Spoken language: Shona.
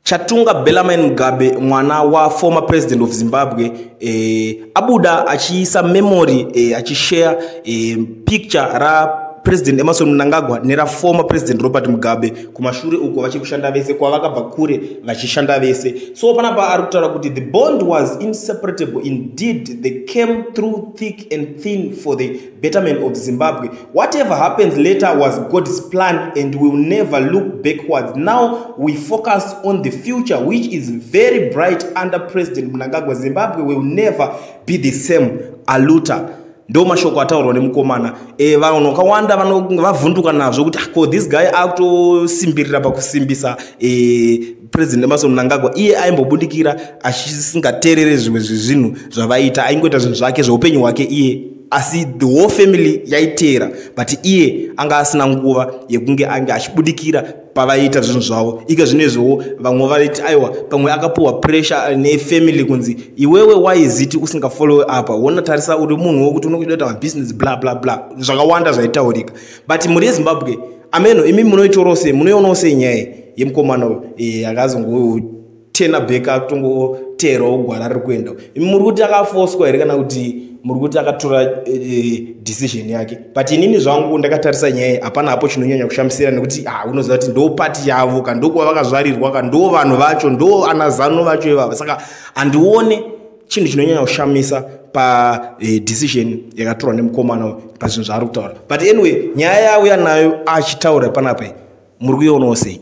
Chatunga Bellarmine Mugabe mwana wa former president of Zimbabwe eh, abuda achiisa memory eh, achishare eh, picture ra president Emerson Mnangagwa nera former president Robert Mugabe kumashure uko vachiri kushanda vese kwavakabva kure vachishanda vese so panapa ari kutaura kuti the bond was inseparable indeed they came through thick and thin for the betterment of zimbabwe whatever happens later was god's plan and will never look backwards now we focus on the future which is very bright under president munangagwa zimbabwe will never be the same aluta ndo mashoko ataurwa nemukomana e, vanhu vakawanda vavhunduka nazvo kuti ah, ko this guy akutosimbirira pakusimbisa e, president emason mnangagwa iye aimbobudikira achisingateerere zvimwe zvezvinhu zvavaita aingoita zvinhu zvake zveupenyu hwake iye asi the whole family yaiteera but iye anga asina nguva yekunge ange achibudikira pavaiita zvinhu zvavo ika zvinezviwo vamwe vaiti aiwa pamwe akapuhwa pressure nefamily kunzi iwewe waiziti usingafollowe apa wona tarisa uri munhu wokuti unokuita kuita mabusiness bla bla bla zvakawanda zvaitaurika but mhuri yezimbabwe ameno imi munoitorawo sei munoionawo sei nyaya yemukomana uyo eh, akazongo tena beka akutongoteerawo gwara riri kuenda imi muri kuti akafoswa here kana kuti muri kuti akatora eh, decision yake but inini zvangu ndakatarisa nyaya hapana hapo chinonyanya kushamisira nekuti ha ah, unoziva kuti ndo pati yavo ka ndokuva vakazvarirwa ka ndo vanhu vacho ndo anazano vacho ivava saka handione chinhu chinonyanya kushamisa padecision eh, yakatorwa nemukomana pazvinhu zvaari kutaura but anyway nyaya yauya nayo achitaura panapa muri kuionawo sei